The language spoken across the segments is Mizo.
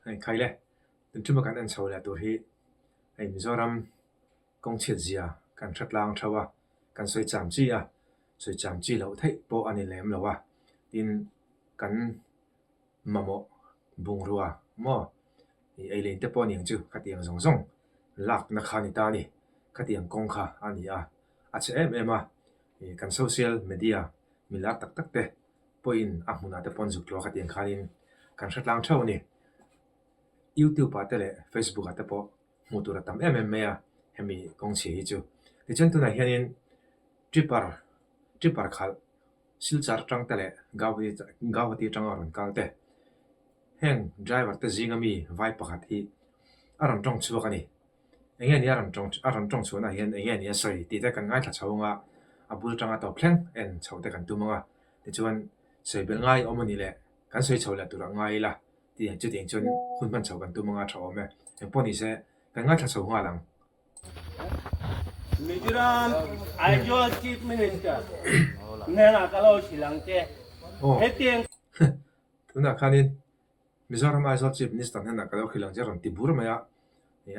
a inkhai le tun chuma kan en chho leh tur hi hei mizoram kawng chhiat zia kan hre tlang tho a kan sawi cham chi a sawi cham chi loh theih pawh a ni lem lo a tin kan-- Mamawh bungrua maw? I eilein te pawh aniang chu khatiang zawng zawng lakna kha ani ta ni. Khatiang kawng kha a ni a, a chhe em em a. I kan social media mi lak tak tak te pawhin a hmunah te pawhin zuk tluah khatiang khanin kan hre tlang theuh a ni. YouTube ah te leh Facebook ah te pawh hmuh tur a tam em em mai a hemi kawngchhe hi chu. Tichuan tunah hianin Tripper, Tripper khalh Silchar tang te leh Guwahati tanga rawn kal te. Heng driver te zinga mi vai pakhat hi a rawn tawng chhuak a ni. Enge nia a rawn tawng chhuahna hian enge nia sawi tih te kan ngaithla chho anga a bul tanga tawp thleng en chhoh te kan tum anga tichuan sawi bel ngai awm a ni le kan sawi chho leh tur ah ngai ila chutiang chuan hun hman chho kan tum anga a tha awm e. Engpawh ni se kan ngaithla chho nghal ang Mizoram Aizawl Chief Minister hnenah ka lo hrilh ang che. Hetiang. Tunah khanin Mizoram Aizawl Chief Minister hnenah ka lo hrilh ang che rawn ti bur mai a,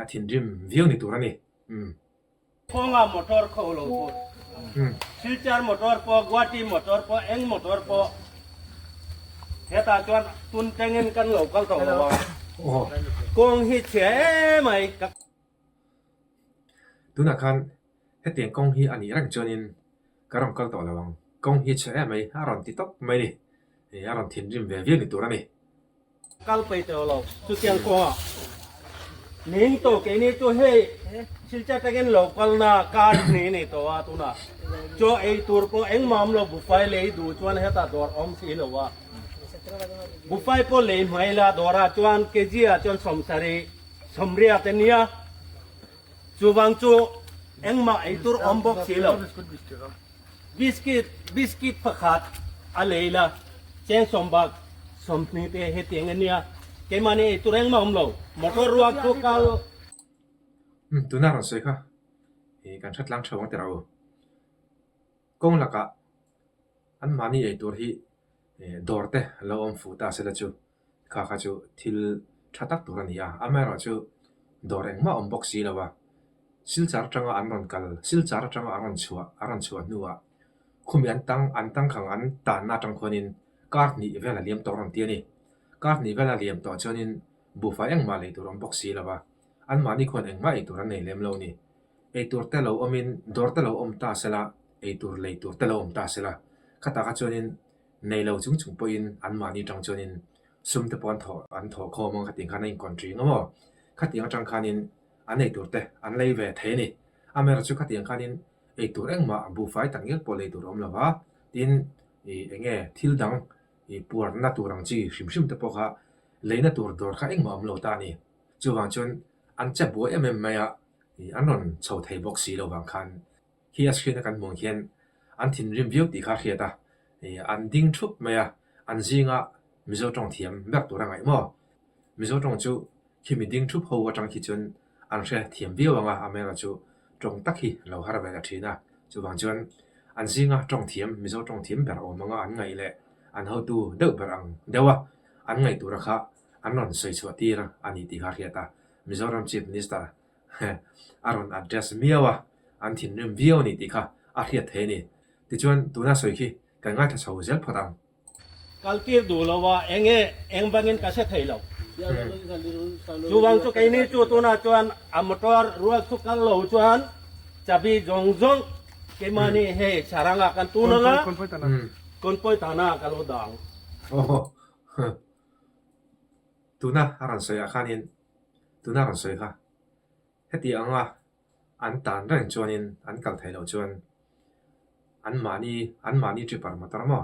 a thinrim viau ni tur a ni. Thawngah motor khaw u lo phur. Silchar motor pawh, Guwahati motor pawh, eng motor pawh hetah chuan tun tengin kan lo kal tawh lo a. Kawng hi chhia emai ka. Tunah khan hetiang kawng hi a nih reng chuanin ka rawn kal tawh lo ang. Kawng hi a chhe em mai, a rawn ti tawp mai ni. A rawn thinrim ve viau ni tur a ni. Kal pei tawh lo, chutiang kawngah ning tawh keini chu hei thilchhe takin lo kalna kar hi ni ni tawh a, tunah chaw ei tur pawh engmam lo buhfai lei duh chuan heta dawr awm si lo a. Buhfai pawh lei hmai la dawrah chuan kg-ah chuan sawmsarih. Sawmriah te nia, chuvang chu engmah eitur awm bawk si lo. Biscuit, biscuit pakhat a lei la, cheng sawmbak, sawmhni te hetiang a nia. Keimahni eitur engmah awm lo. Motor ruak chu kal. Umm, tuna rawn sawi kha hi kan hre tlang theuh ang tirh au. Kawng lakah anmahni eitur hi dawr te an lo awm fu ta se la chu. Kha kha chu thil tha tak tur a ni a, amaherawh chu dawr engmah awm bawk si lo a, silchar atanga an rawn kal, silchar atanga a rawn chhuah, a rawn chhuah hnuah khumi an tang, an tangkhang an tanna atang khuanin kar hnih vel a liam tawh a rawn ti a ni. Kar hnih vel a liam tawh chuanin buhfai engmah lei tur awm bawk si lo a, anmahni khuan engmah ei tur an nei lem lo a ni. Ei tur te lo awmin dawr te lo awm ta sela, ei tur lei tur te lo awm ta sela, khata kha chuanin Nei lo chung chung pawhin anmahni tang chuanin sumte pawh an thawh an thawh kho maw khatiang khan a inkawn ṭi ngawm aw. Khatiang aṭang khanin an ei tur te an lei ve thei a ni. A Mary chu khatiang khanin ei tur engmah a buhfai tak ngil pawh lei tur a awm lo a, tin i eng nge thil dang i puarna tur ang chi hrim hrim te pawh kha leina tur dawr kha engmah a awm lo ta a ni. Chuvang chuan an che buai em em mai a, an rawn chho thei bawk si lo vang khan Khi a screen a kan hmuh ang hian an thinrim viau tih kha a hriat a, an ding thup mai a, an zinga Mizo tawng thiam ber tur a ngaih maw? Mizo tawng chu khi mi ding thup ho atang khi chuan an hre thiam viau ang a, amerawh chu tawng tak hi an lo har ve ta thin a, chuvang chuan an zinga tawng thiam Mizo tawng thiam ber awm anga an ngaih leh an hotu deuh ber ang deuh a, an ngaih tura kha an rawn sawi chhuah tir a ni tih kha a hriat a, Mizoram Chief Minister a rawn adjust miau a, an thinrim viau a ni tih kha a hriat theih a ni. Tichuan, tuna sawi khi kan ngaithla chho zel phawt ang. Kal tir duh lo a, eng nge eng bangin ka hre thei lo. Chuvang chu keini chu tunah chuan a motor rual chu kal lo chuan chabi zawng zawng keimahni hei saranga kan tun ang a, Konpoi tana ka lo dang. Tuna a rawn sawiah khanin Tuna rawn sawi kha, heti anga an tan reng chuanin an kal thei loh chuan an mahni an mahni tripper motor emaw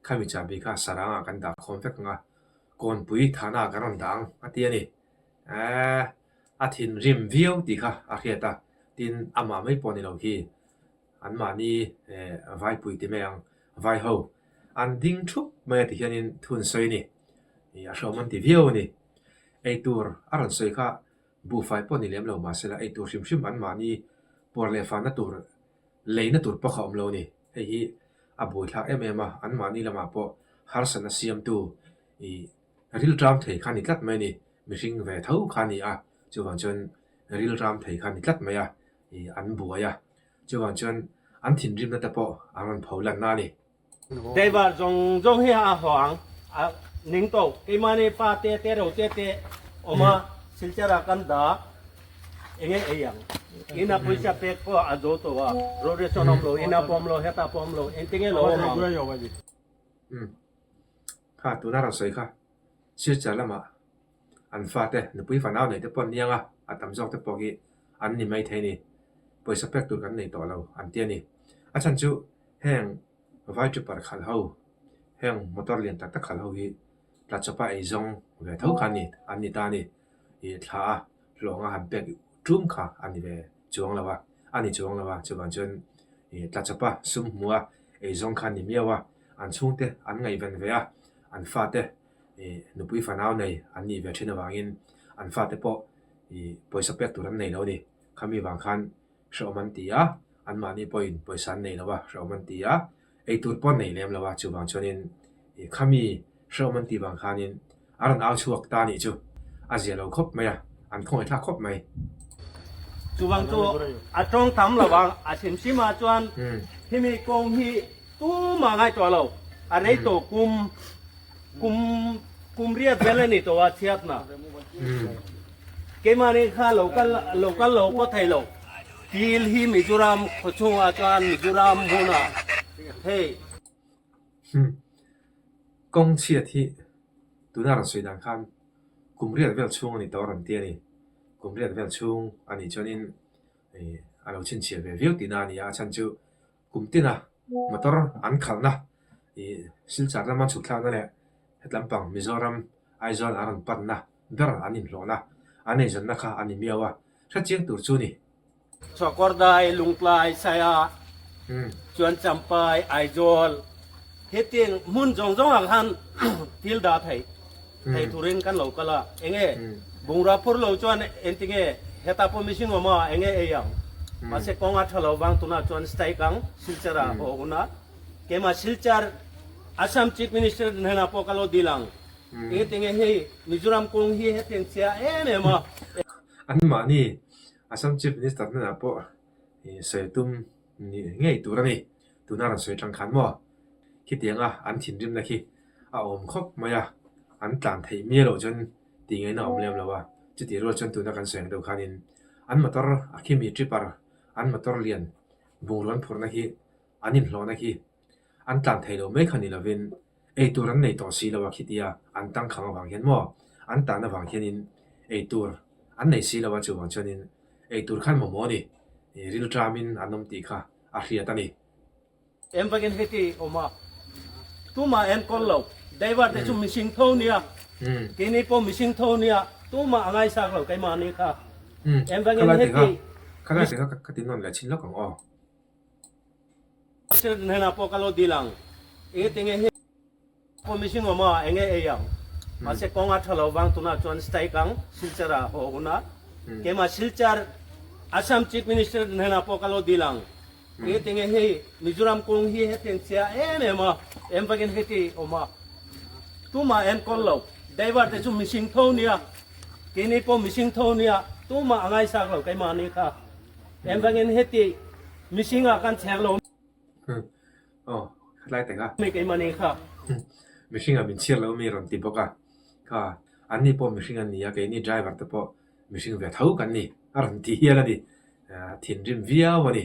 khami chahbi kha saranga kan dah khawm vek ang a, Kawnpui thana kan rawn dah ang a ti a ni. Aaa, a thinrim viau tih kha a hriat a, tin amah mai pawh ni lo khi An mahni vaipui ti mai ang, vai ho, an ding thup mai a ti hianin thun sawi ni, a hrawm an ti viau a ni. Eitur a rawn sawi kha buhfai pawh ni lem lo mah sela eitur hrim hrim an mahni puar leh fanna tur leina tur pawh kha awm lo a ni. Hei hi a buaithlak em em a, an mahni lamah pawh harsatna siamtu rilram thei kha ni tlat mai a ni, mihring ve tho kha a ni a, chuvang chuan rilram thei kha ni tlat mai a, hi an buai a, chuvang chuan an thinrimna te pawh an rawn pho lanna a ni. Daivar zawng zawng hi a haw ang, a ning tawh. Keimahni pa te te ro te te awm a, silchar ah kan dah eng nge ei ang? Ina pawisa pek pawh a zo tawh a, road race a awm lo, ina pawm lo, heta pawm lo, engte nge lo awm ang? Kha tuna a rawn sawi kha silchar lamah An fate, nupui fanau neite pawn niang a, a tam zawkte pawh hi an ni maithei ni. Pawisa pek tur kan nei tawh lo, an ti a ni. A chhan chu, heng vai chupar khal ho, heng motor lian tak tak khal ho hi tla chawpa ei zawng ve tho kha ni, an ni ta a ni. I thla a, hlawng a han pek ṭum kha a ni ve chuang lo a, a ni chuang lo a, chuvang chuan i tla chawpa sum hmua ei zawng kha a ni miau a, an chhungte an ngaihven ve a, an fate i nupui fanau nei an nih ve thin avangin an fate pawh i pawisa pek tur an nei lo a ni. Khami vang khan hrehawm an ti a, anmahni pawhin pawisa an nei lo va, hrehawm an ti a, eitur pawh an nei lem lo va, chuvang chuanin i khami hrehawm an ti vang khanin a rawn au chhuak ta a nih chu a zia lo khawp mai a. An khawngaih thlak khawp mai. Chuvang chu a tawng tam lo vang a hrim hrim a chuan hemi kawng hi tumah ngai tawh lo a rei tawh kum kum kum riat vel a ni tawh a chhiatna keimahni kha lo kal lo kal lo pawt thei lo pil hi mizoram khaw chhunga chuan mizoram hmuna hei kawng chhiat hi tuna rawn sawi dan khan Kum riat vel chhung a ni tawh a rawn ti a ni. Kum riat vel chhung a nih chuanin ih a lo chhinchhiah ve viau tihna a ni a, a chhan chu kum tina motor an khalhna ih silchar lama an chhuk thlakna leh hetlam pang Mizoram, Aizawl an rawn panna ber an inhlawhna an eizawnna kha an ni miau a, hrechiang tur chu a ni. Chhuakawrdai, Lungtlai, Saya, chuan Champai, Aizawl hi tin hmun zawng zawng ah khan thil dah theih theih tur in kan lo kal a, eng nge bungrua phur lo chuan engti nge heta pawh mihring awm a eng nge ei ang? Mahse kawng a tha lo vang tun ah chuan strike ang silchar ah haw hun a, keimah silchar Assam Chief Minister hnen ah pawh ka lo dil ang, engtinge hei Mizoram kawng hi he thengchhia em em a. Anmahni Assam Chief Minister hnenah pawh sawi tum nih ngei tur a ni. Tuna rawn sawi tangkhan maw? Khitianga an thinrimna khi a awm khawp mai a, an tlan theih mial loh chuan tingeina a awm lem lo a. Chutih rual chuan tuna kan sawi ang deuh khanin an motor a khimi tripper an motor lian bungrawn phurhna hi, An inhlawhna hi an tlan thei lo mai kha ni lovin, ei tur an nei tawh si lo a khitia an tangkhang avang hian maw, an tan avang hianin ei tur an nei si lo a chuvang chuanin ei tur khan mamawh a ni, rilṭamin an awm tih kha a hriat a ni. Em vangin heti a awm a, tumah en kawl lo Daivar te chu mihring tho nia, keini pawh mihring tho nia, tumah a ngaisak lo keimahni kha, em vangin heti. Khalai teka ka tinawn leh chhin lawk ang aw, President hnenah pawh ka lo dil ang, enge tinge hi pawh mihring awmah eng nge ei ang. Mahse kawng a tha lo vang tunah chuan strike ang Silchara haw huna. Keimah Silchar Assam Chief Minister hnenah pawh ka lo dil ang, enge tinge hi Mizoram kawng hi hetiang che a em em a, em vakin heti awm a, tumah en kawl lo, Daivar te chu mihring tho nia, keini pawh mihring tho nia, tumah a ngaisak lo keimahni kha. Em vangin heti mihring ah kan chher lo. Aw, khatlai teng a. Mi keimahni kha. Mihring ah min chhiar lo ami rawn ti bawk a. Kha, anni pawh mihring an ni a, kei ni driver te pawh mihring ve tho kan ni a rawn ti hial a ni. A thinrim viau a ni.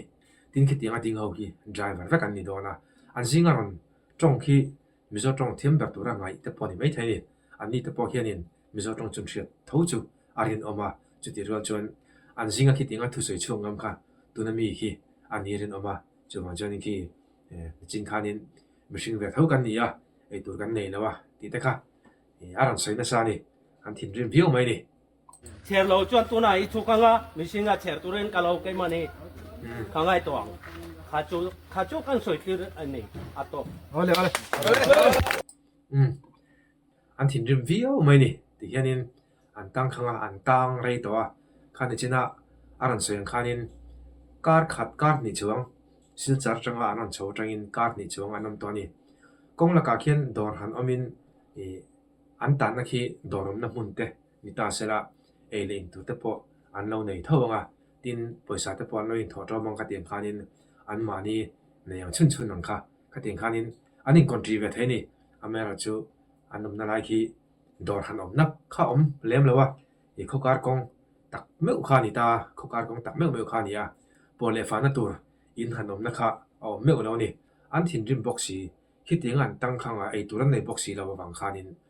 Tin khitiang a ding ho hi driver vek an ni dawn a. An zing a rawn tawng khi Mizo tawng thiam ber tura ngaih te pawh ni maithei ni. Anni te pawh hianin Mizo tawng chu hriat tho chu a rinawm a, chuti rual chuan an zinga khi tinga thusawi chhung ngam kha tuna mi khi a ni rinawm a, chuvang chuanin khi chin khanin mihring ve tho kan ni a, eitur kan nei lo a tih te kha a rawn sawi nasa a ni, an thinrim viau mai a ni. Chher lo chuan tunah i chhuk anga mihring a chher turin ka lo kem a ni. Kha ngaihtuah ang. Kha chu kha chu kan sawitlir a ni a tawp. Awle awle. Umm. An thinrim viau mai ni ti hianin an tangkhanga an tang rei tawh a. Kha nichinah a rawn sawi ang khanin kar khat kar hnih chuang silchar tanga an rawn chho atangin kar hnih chuang an awm tawh a ni. Kawng lakah khian dawr han awmin ih an tanna khi dawr awmna hmun te Ni ta se la, ei leh in tur te pawh an lo nei tho ang a, tin pawisa te pawh an lo inthawh tawh mang ka ti ang khanin an mahni nei ang chhun chhun ang kha. Ka ti ang khanin an in country ve thei ni, a Meral chu an awmna lai khi dawr han awm nak kha awm lem lo a, i khawkar kawng tak meuh kha a ni ta, khawkar kawng tak meuh meuh kha a ni a, pawh leh fahna tur in han awmna kha a awm meuh lo a ni, an thinrim bawk si, khitianga an tang khang a ei tur an nei bawk si lo avang khanin,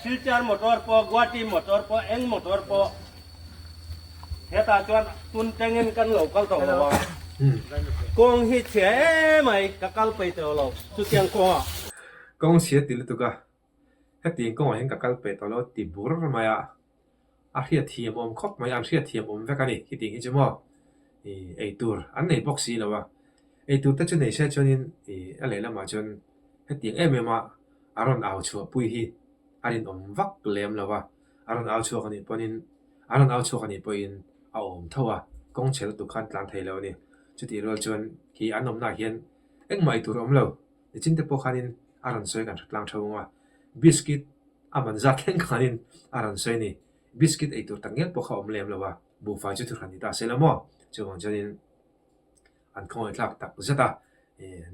Silchar motor pawh, Guwahati motor pawh, eng motor pawh hetah chuan tun tengin kan lo kal tawh lo a. Kawng hi chhia emai ka kal pei tawh lo chutiang kawngah. Kawng chhia ti lutuk a, hetiang kawngah hian ka kal pei tawh lo ti bur mai a. a hriatthiam awm khawp mai a, an hriatthiam awm vek a ni hitih hi chu maw, ih ei tur an nei bawk si lo a, ei tur te chu nei se chuan in ih a lehlam ah chuan hetiang em em a a rawn au chhuah pui hi a rinawm vak lem lo a, a rawn au chhuak a nih pawh in a rawn au chhuak a nih pawh in a awm tho a, kawng chhe lutuk khan tlan thei lo a ni, chutih rual chuan khi an awmna ah hian engmah ei tur a awm lo. Nichin te pawh khanin a rawn sawi kan hre tlang tho ang a, biscuit a man zat thleng khanin a rawn sawi a ni. Biscuit ei tur tak nge pawh kha awm lem lo a, buhfai chu thu hran ni ta a si lo maw? Chuvang chuanin an khawngawi tlak tak zet a,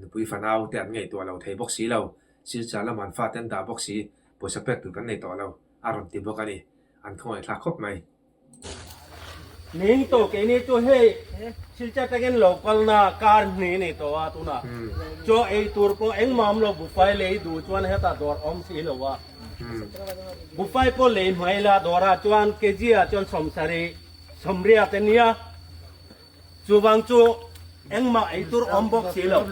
nupui fanau te an ngaih tawh lo thei bawk si lo, silchar lam han fate an dah bawk si, pawisa pek tur kan nei tawh lo a rawn ti bawk a ni. An khawngaih tlak khawp mai. Ning tawh keini chu hei thilchhiat takin lo kalna kar hnih a ni tawh a, tunah chaw ei tur pawh engmahawm lo buhfai lei duh chuan hetah dawr a awm si lo a. Buhfai pawh lei hmai la dawrah chuan kg ah chuan sawmsarih, sawmriat a nia. Chuvang chu engmah eitur awm bawk si lo.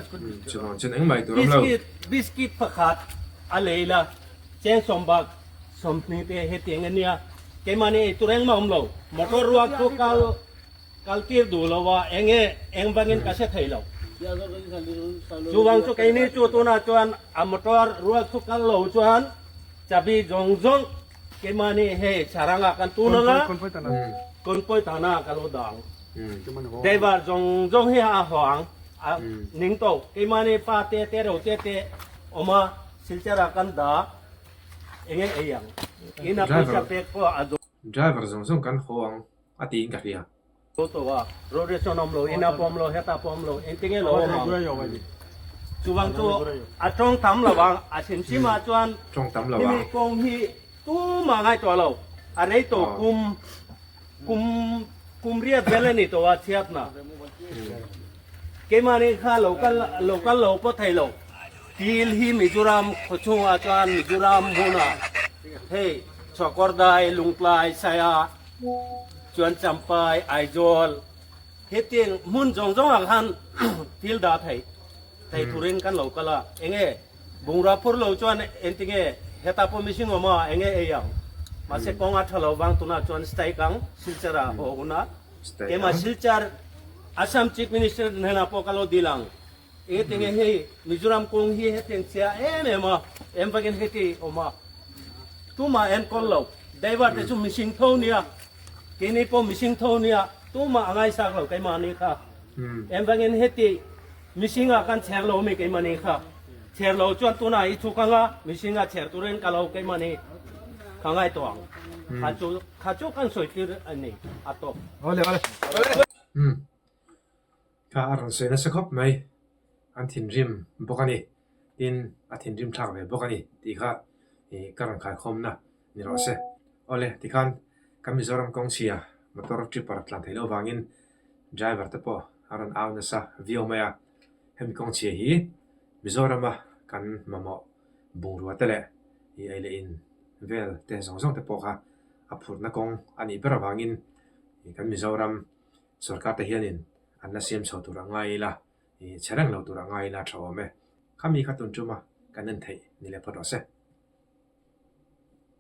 Chuvang chuan engmah eitur awm lo. Biscuit, biscuit pakhat a lei la, cheng sawm bak sawmhni te hetiang a nia. Keimahni eitur engmah awm lo. Motor ruak chu kal, kal tir duh lo a, eng nge eng vangin ka hre thei lo. Chuvang chu keini chu tunah chuan a motor ruak chu kal lo chuan chabi zawng zawng, Keimahni hei saranga kan tun anga Konpoi tana ka lo dang. Deivar zawng zawng hi a haw ang. A ning tawh. Keimahni pa te te reu te te awma silchara kan dah eng nge ei ang. Ina pawisa pek pawh a dum. Driver zawng zawng kan haw ang a tiin ka hria. Chu tawk a radiation awm lo in a pawm lo heta a pawm lo engtin nge lo awm ang chuvang chu a tawng tam lo vang a chhim chhim ah chuan hemi kawng hi tumah ngai tawh lo a rei tawh kum kum kum riat vel a ni tawh a chhiat na keimah ni kha lo kal lo kal lo pawh thei lo til hi mizoram khaw chhung ah chuan mizoram hmun ah hei chhuakawr dai lungtlai saia Chuan Champai, Aizawl hetiang hmun zawng zawngah khan thil dah theih theih thurin kan lo kal a, eng nge bungrua phur lo chuan engti nge heta pawh mihring awm a, eng nge ei ang? Mahse kawng a tha lo vang tunah chuan strike ang Silchar-a haw hunah. Keimah Silchar Assam Chief Minister hnenah pawh ka lo dil ang. Enge ti nge hei Mizoram kawng hi hetiang chhia em em a, em vangin heti a awm a, tumah en kawl lo, Daivar te chu mihring tho nia, keini pawh mihring tho nia, tumah a ngaisak lo keimahni kha. Em vangin heti mihringa kan chher lo mi keimahni kha, chher lo chuan tunah hi thu ka nga, mihringa chher turin ka lo keimahni ka ngai tawh ang. Kha chu kha chu kan sawi tir a ni a tawk. Kha a rawn sawi nasa khawp mai, an thinrim bawk a ni. Tin, a thinrim thlak ve bawk a ni tih kha ka rawn khaikhawmna ni loh se. Aw le, tikhan ka Mizoram kawng chhia motor tripper tlan theih loh vangin driver te pawh an rawn au nasa viau mai a. Hemi kawng chhia hi Mizorama kan mamawh bungrua te leh eileih in vel te zawng zawng te pawh kha a phurhna kawng a nih ber avangin kan Mizoram, sawrkar te hian in an la siam chho tur a ngai ila, ih chhe reng lo tur a ngai ila tha awm e. Kha mi kha tun ṭum a, kan en theih ni leh phawt rawh se.